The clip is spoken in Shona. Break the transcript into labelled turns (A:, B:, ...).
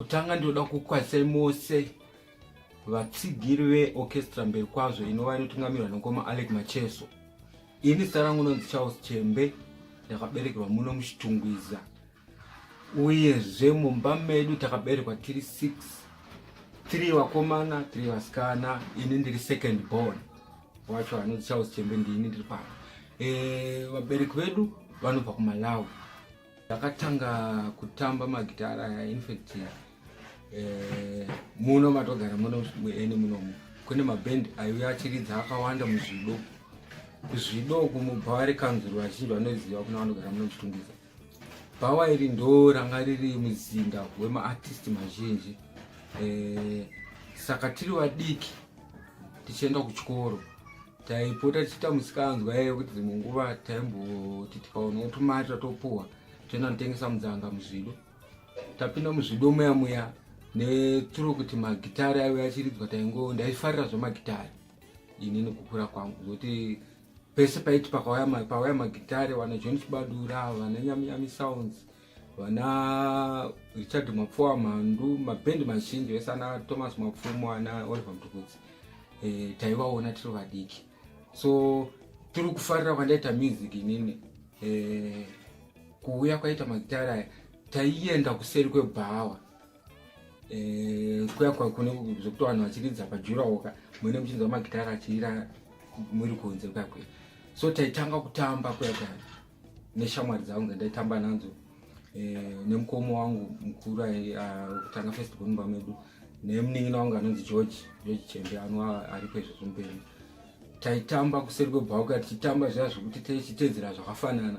A: Kutanga ndinoda kukwazisai mose vatsigiri veorchestra mberi kwazvo inova inotungamirwa nokoma alec macheso ini zita rangu nonzi charles chembe ndakaberekerwa muno muchitungwiza uyezve mumba medu takaberekwa tiri 6 3 vakomana 3 vasikana ini ndiri second born wacho anonzi charles chembe ndiini ndiri pano eh, vabereki vedu vanobva kumalawi Ndakatanga kutamba magitara aya infact eh, muno matogara muno muene munomu kune maband aiuya achiridza akawanda muzvido kuzvido kumubva vari kanzuru vazhinji vanoziva kuna vanogara muno muchitungisa bhawa iri ndo ranga riri muzinda wemaartist mazhinji eh, saka tiri vadiki tichienda kuchikoro taipota tichiita musikanzwa yaive kuti dzimwe nguva taimboti tikaonawo tumari tatopuwa toenda notengesa mudzanga muzvido tapinda muzvido muya muya neturo kuti magitari aive achiridzwa taingo ndaifarira zvemagitari ini nekukura kwangu zvokuti pese paiti pakauya magitari vana john chibadura vana nyaminyami sounds pa vana richard mapfuwa mhandu mabhendi mazhinji vese ana thomas mapfumo ana oliver mtukudzi e, eh, taivaona tiri vadiki so tiri kufarira kwandaita music inini e, kuuya kwaita magitari aya taienda kuseri kwebhawa e, eh, kuya kwakune zvekuti vanhu vachiridza pajurawoka mune muchinzwa magitari achirira muri kunze kuya kuya so taitanga kutamba kuya kuya neshamwari dzangu dzandaitamba nadzo eh, nemukoma wangu mukuru ah, wekutanga first born mumba medu nemunin'ina wangu anonzi george george chembe anova ariko izvo zvomupenyu taitamba kuseri kwebhauka tichitamba zviya zvekuti tichitedzera zvakafanana